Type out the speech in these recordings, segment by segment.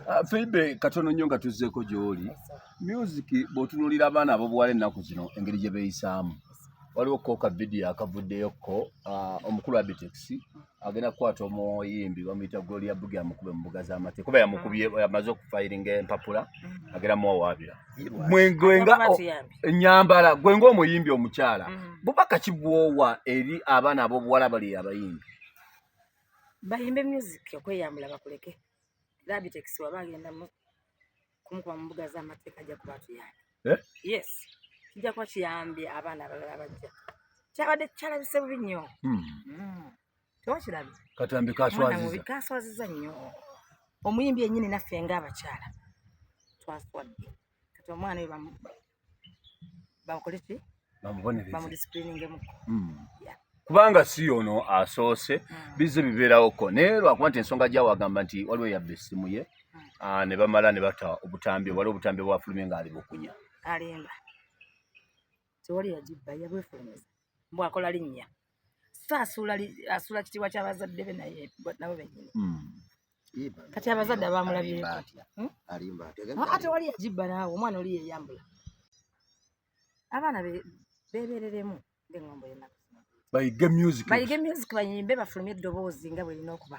Ah, Feibe katono nnyo nga tuzzeeko gy'oli music bw'otunuulira abaana ab'obuwala ennaku zino engeri gye beeyisaamu waliwo ko ka vidiyo akavuddeyo ko ah, omukulu abitex agenda kukwata omuyimbi bamuyita goli ya bugi amukube mu mbuga z'amateeka kuba yamukubye amaze okufayiringa empapula agenda muwawaabira mwenga enyambala gwe ngaomuyimbi omukyala mm-hmm. bubaka kibwowa eri abaana ab'obuwala bali abayimbi bayimbe music okweyambula bakuleke Labitex waba agenda mu kumukuba mu mbuga z'amateeka ajja kuba tuyambi. Eh? Yes. Kijja kuba kiyambye abaana abalala abajja. Kyabadde kyalabise bubi nnyo. Hmm. Hmm. Tewakirabi. Katambi kaswaziza. Kaswaziza nnyo. Omuyimbi yennyini naffe ng'abakyala twaswadde. kati omwana oyo bamukoleki bamudisipulingengmuko hmm. kubanga si ono asoose hmm. bizze bibeerawoko naye lwakuba nti ensonga gyawagamba nti waliwo yabba essimu ye hmm. ah, ne bamala ne bata obutambi waliwo obutambi bwafulumye nga ali bukunya alimba tewali yagibba yabwefulumisa mbwakola linnya so asuula asuula kitiibwa kya bazadde be naye nabo bennyini hmm. kati abazadde abamulabyeko hmm? ate wali yagibba naawe omwana oli yeyambula abaana bebereremu ngaeŋombo yenaku bayige music bayimbe bafulume eddoboozi nga bwerina okuba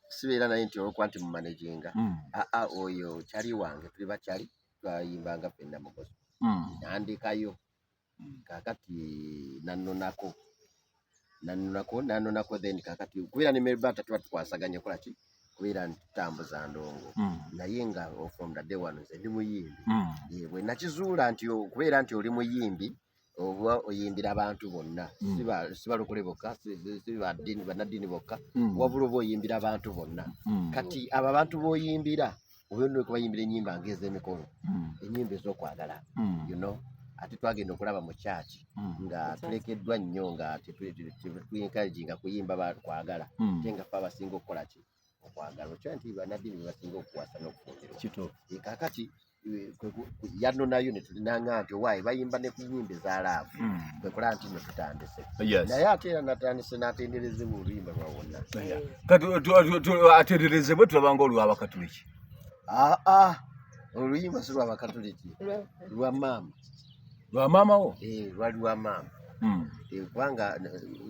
sibeera naye nti olwokuba nti mumanaginga mm. aa ah, ah, oyo kyali wange tuli bakyali twayimbanga fenna mugozi mm. nandekayo mm. kakati nanonako nanonako nanonako then kakati kubeera ne melbata tuba tukwasaganya kolaki kubeera ntambuza ndongo naye nga from the day one nze ndi muyimbi bwe nakizuula nti okubeera nti oli muyimbi oba oyimbira abantu bonna hmm. sibalokole bokka bannaddiini bokka hmm. wabula oba oyimbira abantu bonna hmm. kati abo abantu boyimbira oyono kubayimbira enyimba ngezemikolo hmm. enyimba ezokwagala hmm. you know ate twagenda okulaba mu kyaki hmm. nga tulekeddwa nnyo nga tetuencouraginga kuyimba kwagala te nga fe abasinga okukola ki okwagala okimanyi nti bannaddiini be basinga okuwasa n'okufumbirwa kituufu Eh, kaakati eh, kwe ku- ku- yanonayo ne tulinanga nti owaaye bayimba ne ku nnyimba eza laavu Mm. kwe kulaba nti no tutandise Yes. naye ate era natandise n'atenderezebwa oluyimba lwa wonna Yeah. Kati tu- tu- tu- atenderezebwe tulabanga olw'abakatuliki aa oluyimba si lwa bakatuliki lwa maama lwa maama wo eh, lwali lwa maama hmm. eh, kubanga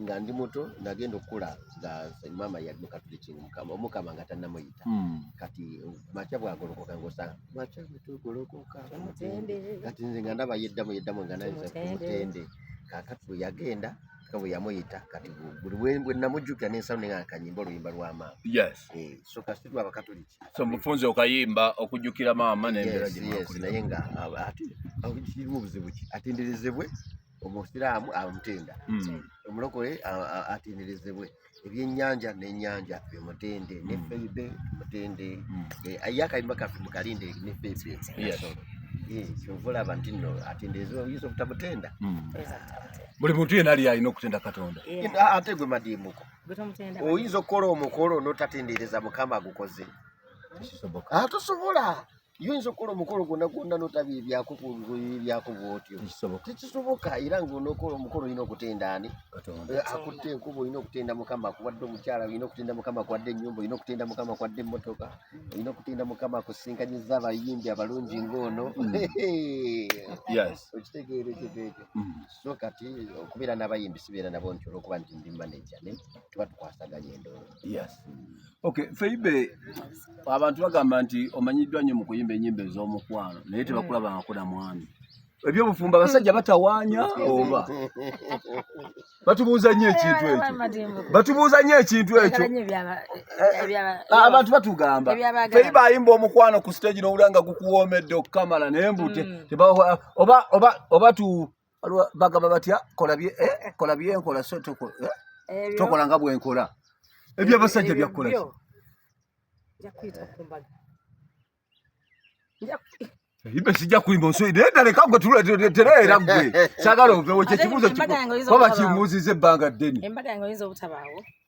nga ndi muto nagenda okukula nga maama yali mukatulikinga mukama omukama nga tanamuyita hmm. kati makya bwagolokoka ngosa makya bwetugolokoka kati nze nga ndaba yeddamu yeddamu nga naye mutende kakati bwe yagenda nga bwe yamuyita kati buli bwe namujjukira n'ensalo ne nga kanyimba oluyimba lwa maama yes eh, so kasi lwa bakatoliki so mufunze okayimba okujjukira maama n'embeera gye mwakuli naye nga ate kirimu obuzibu ki atenderezebwe omusiraamu amutenda hmm. omulokole atenderezebwe ebyenyanja nenyanja bimutende ne mm. feibe mutende mm. eh, aye akayimba kaffe mukalinde ne feibe eh, kyova olaba nti no atendeeza oyinza obutamutenda mm. buli muntu yena ali alina okutenda katonda ate gwe madiimuko oyinza okukola omukolo notatendereza mukama agukoze atosobola ah, yinza okukola omukolo gwonna gwonna notabiibyako kubiibyako bwotyo tekisoboka era nga onokola omukolo olina okutenda ani eh, akutte enkuba olina okutenda mukama akuwadde omukyala olina okutenda mukama akuwadde enyumba olina okutenda mukama akuwadde emotoka olina okutenda mukama akusinkanyiza abayimbi abalungi ngaono mm. okitegeera ekintu ekyo mm. so kati okubeera n'abayimbi sibeera nabo nti olwokuba nti ndi manaja ne tuba tukwasaganya endoolo Okay, Feibe abantu bagamba nti omanyiddwa nnyo mu kuyimba ennyimba ez'omukwano naye tebakulaba nga kuna mwami ebyobufumbo abasajja batawaanya oba batubuuza nnyo ekintu ekyo batubuuza nnyo ekintu ekyo abantu batugamba feri bayimba omukwano ku siteegi n'owulira nga gukuwoomedde okukamala naye mbute mm. oba bagamba batya kola bye eh, kola bye nkola so toko eh, tokola nga bwe nkola ebyo abasajja bya kola ibe sija kuimba nso ide ndale kango tula terera gwe sagalo vewe kye kibuzo kibuzo baba kimuzize banga deni embaga yango yinzo butabawo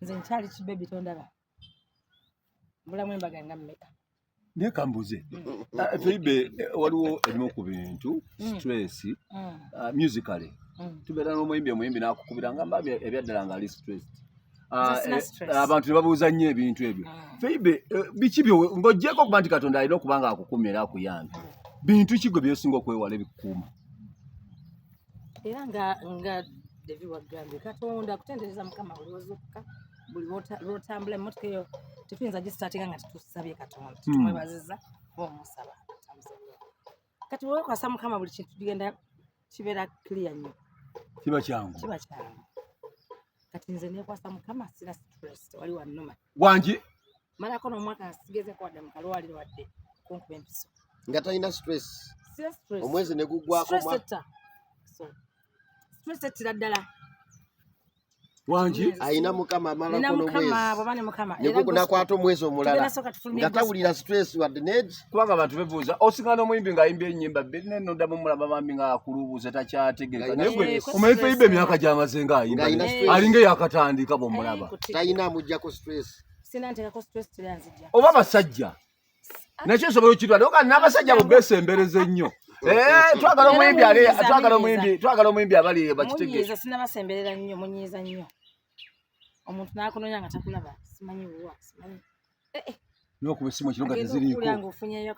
nze nkyali kibebi tondaba mbulamu embaga nga mmeka naye kambuze ah, feibe eh, waliwo ebimu ku bintu mm. stress mm. ah, musically mm. tubeera n'omuyimbi omuyimbi nakukubira nga mbabi ebyaddala nga ali stress ah, eh, abantu tebabuuza nnyo ebintu ebyo feibe eh, biki byo ng'ogyeko okuba nti katonda alina okuba nga akukumira akuyambi bintu ki gwe byosinga okwewala ebikukuuma era nga nga devi wagambye katonda kutendereza mukama buli wazukka buli lwotambula emmotoka eyo tetuyinza gisitaatinga nga tetusabye katonda hmm. tumwebaziza oba omusaba kati wekwasa mukama buli kintu tugenda kibeera clear nnyo kiba kyangu kiba kyangu kati nze nekwasa mukama sira stress wali wanuma wangi mara kono omwaka asigeze kwa damu kalwali wadde kunkuba empiso nga talina stress omwezi ne guggwako stress ettira ddala wangi ayina mukama amala kono mwezi nakwata omwezi omulala nga tawulira stress wadde negi kubanga abantu bebuuza osinga n'omuyimbi ng'ayimba ennyimba bbiri naye noddamu omulaba bambi ng'akulubuuza takyategereka naye gwe omanyi feyimba emyaka gyamaze ng'ayimba alinga eyakatandika bw'omulaba talina amuggyako stress oba basajja nakyo nsobola okitwala oka n'abasajja abo besembereza ennyo eh, twagala omuyimbi ale twagala omuyimbi twagala omuyimbi abali bakitegeeza sinabasemberera nnyo munyiiza nnyo omuntu n'akunonya nga takulaba simanyi wuwa simanyi eh, eh. n'okuba essimu ekiro nga teziriiko ofunyeyo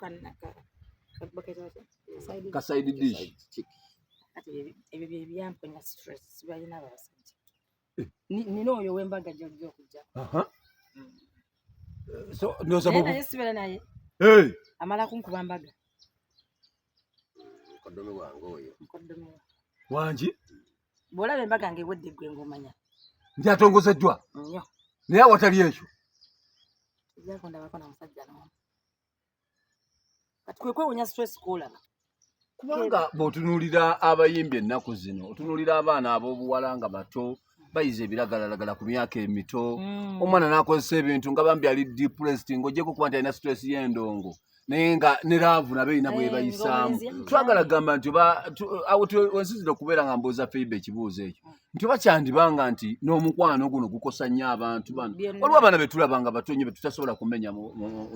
kasaidi dish ebyo byebyampenya stress sibalina abasajja nina oyo wembaga gyojja okujja naye sibera naye amala kunkuba mbaga mukoddomi wange oyo mukoddomi wangi bwolaba embaga nga ewedde gwe ngaomanya nti atongozeddwa naye awatali ekyo kati kwe kwewunya stress kwolaba kubanga bw'otunuulira abayimbi ennaku zino otunuulira abaana ab'obuwala nga bato bayize ebiragalalagala ku myaka emito mm. omwana n'akozesa ebintu nga bambi ali depressed ng'ogyeko kuba nti alina stress y'endongo naye nga ne laavu nabo erina eh, bwebayisaamu twagala gamba nti awo wensinzira okubeera nga mbuuza feiba ekibuuzo ekyo mm. nti oba kyandibanga nti n'omukwano guno gukosa nnyo abantu bano waliwo abaana betulabanga batonye betutasobola kumenya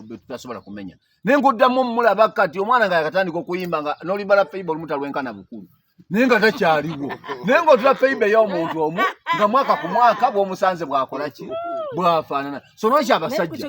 betutasobola kumenya naye ngaoddamu omulaba kati omwana nga yakatandika okuyimba nga nolimbala feiba olumu talwenkana bukulu naye nga takyaliwo naye ngaotula feiba ey'omuntu omu nga mwaka ku mwaka bwomusanze bwakola ki bwafaanana so lwaki abasajja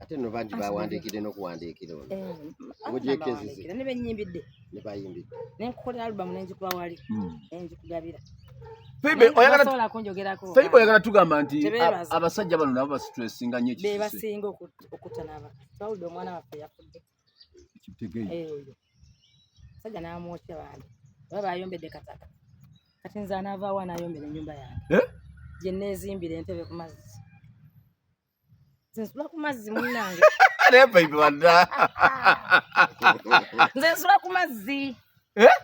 ate no bangi bawandiikidde n'okuwandiikira ono eh, mujekezize ne benyimbidde ne bayimbidde ne nkukolera alubamu ne njikuba wali hmm. ne njikugabira Febe oyagala sola kunjogerako Febe oyagala tugamba nti abasajja bano nabo basitressinga nnyo ekisisi be basinga okutanaba twawulidde omwana waffe yafudde kitegeyi eh oyo sajja n'amwokya bandi oba bayombedde kataka kati nze anaavaawo anaayombera ennyumba yange eh? gye nneezimbira entebe ku mazzi nze nsula ku mazzi munnange naye paipe wadda nze nsula ku mazzi eh?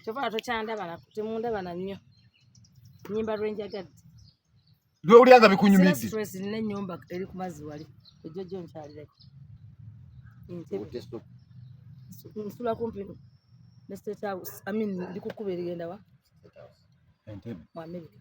kyova tokyandabala temundabana nnyo nyimba lwenjagadde lwewulyanga bikunyumiddenina enyumba eri ku mazzi wali ejjo jo nkyalireko nsula kumpi ne state house amin ndi kukuba erigendawa mu amerika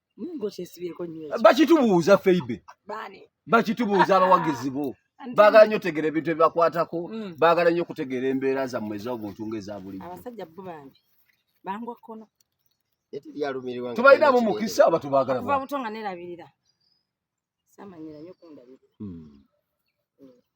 bakitubuuza feibe bakitubuuza abawagizi bo baagala nyo otegeera ebintu ebibakwatako mm. baagala nyo okutegeera embeera zammwe ez'obuntu ng'ezabulijjotubalinamu mukisa oba tubaagala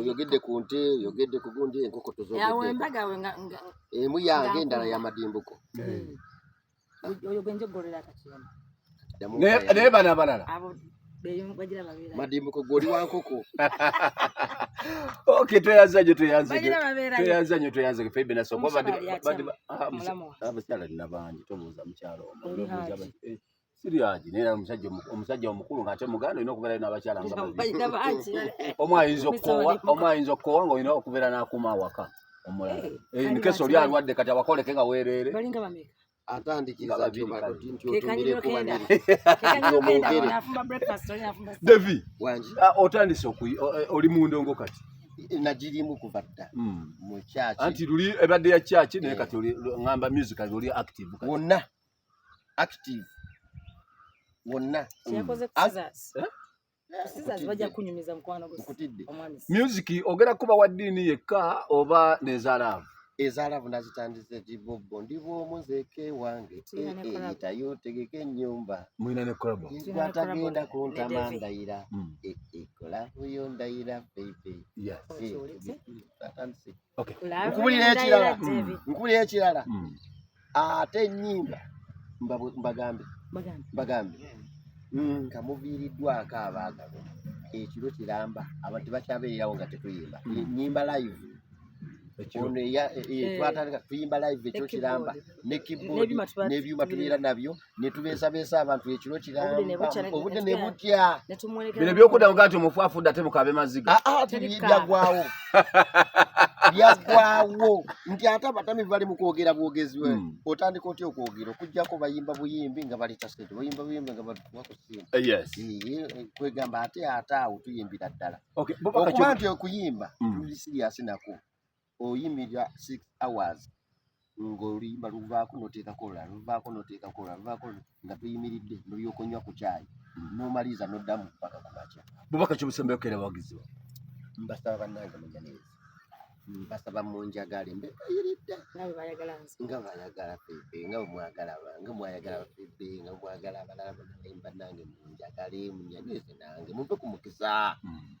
oyogedde ku nte oyogedde ku gundi enkoko tozoemu yange endala ya madimbuko naye bana balala madimbuko goli wa nkoko ok tweyanza nyo tweyanza nyo tweyanza nyo tweyanza nyo febe naso kuba badi badi ah, ah, mukyala nina bangi tobuuza mukyala omu siryaji naye omusajja omusajja omukulu ng'ate muganda olina okubeerayo n'abakyala omu ayinza okukoowa omu ayinza okukoowa ng'olina okubeera n'akuma awaka omulala eh, eh, nkesi oli alwadde kati awakoleke nga weereere devi ah, otandise eh, oli mu ndongo kati nagirimu kuva dda hmm. mu kyaki anti luli ebadde ya kyaki naye kati ngamba musical oli active wonna active wonna kyekoze mm. scissors eh? music ogera kuba wa ddiini yekka oba nezalaavu ezalaavu nazitandise gibobbo ndi bwomu nzeke wange eyita eh, eh, yotegeka ennyumba mulina ne kolabo atagenda kuntama ndayira mm. ekolavu yo ndayira bebe atandise Okay. Nkubulira ekirala. Nkubulira ekirala. Hmm. Ate ennyimba mbagambe. Mbagambe. Mbagambe. Hmm, nga muviiriddwako abaagalwa ekiro kiramba abantu bakyabeererawo nga tetuyimba hmm. nyimba live ono eh, eh, eh. twatandika tuyimba live ekyo kiramba ne keyboard n'ebyuma tubeera nabyo netubeesabeesa abantu ekiro kirambobudde ne butya bino byokuddamu ga nti omufu afudde ate mukabe maziga ah, ah, byagwawo byagwawo nti ate abatami bali mu kwogera bwogezi we hmm. otandika otya okwogera okujjako bayimba buyimbi nga baleeta sente bayimba buyimbi nga batuwa ku sente eh, eh, eh, kwegamba ate ate awo tuyimbira ddala okuba nti okuyimba hmm. tuli siriyasi nako oyimirira six hours ng'oluyimba luvaako noteekako olulala luvaako noteekako olulala luvaako nga tuyimiridde nolyoka onywa ku kyayi nomaliza noddamu mpaka ku makya bubaka kyobusembe okera bawagizi ba mbasaba bannange munyaniriza mbasaba munjagale mbebayiridde nga bayagala febe nga bwemwagala nga mwayagala febe nga mwagala abalala banaye bannange munjagale munyanirize nange muve ku mukisa hmm.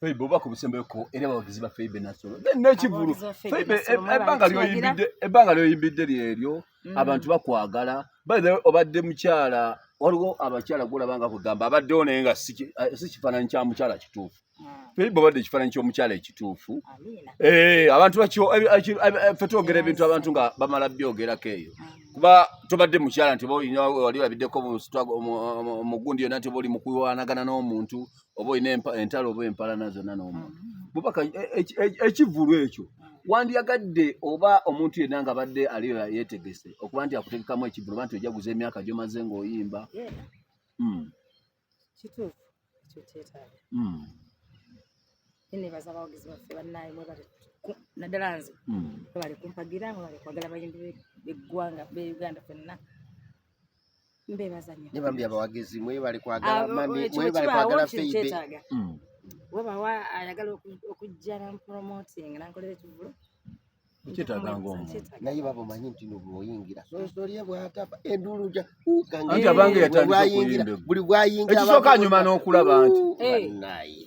Feibe oba kubisembeko era abawagizi ba Feibe Nasolo nekivulu Feibe ebbanga lyoyimbidde ebbanga lyoyimbidde lyeryo mm. abantu bakwagala by the way obadde mukyala waliwo abakyala gulaba nga kugamba abaddewo naye nga si eh, kifaananyi kya mukyala kituufu mm. Feibe obadde ekifaananyi ky'omukyala ekituufu eh, abantu bakyo eh, fe twogera ebintu abantu nga bamala byogerako eyo mm. kuba tobadde mukyala nti wali olabiddeko omugundi yonna nti oba oli mukulwanagana n'omuntu oba olina entalo oba empalana zonna n'omuntu bubaka e, e, e, ekivulu ekyo wandiyagadde oba omuntu yenna nga badde aliyo yetegese okuba nti akutegekamu ekivulu oba nti ojaguza emyaka gyomaze ng'oyimba hmm. kituufu ekyo kyetaaga hmm. nebaza abawagizi baffe bannaayi mwebale naddala nze mwebale hmm. kumpagira mwebale kwagala bayimbi beggwanga be uganda fenna mbebazanya ne bambi abawagizi mwebale kwagala ah, mami mwebale kwagala feibe hmm. webawa ayagala okujja nampromoting nankolera ekivulu naye baba omanyi nti nobwoyingira sosolie bwatapa enduulu ja ukange buli bwayingira ekisooka nyuma n'okulaba nti naye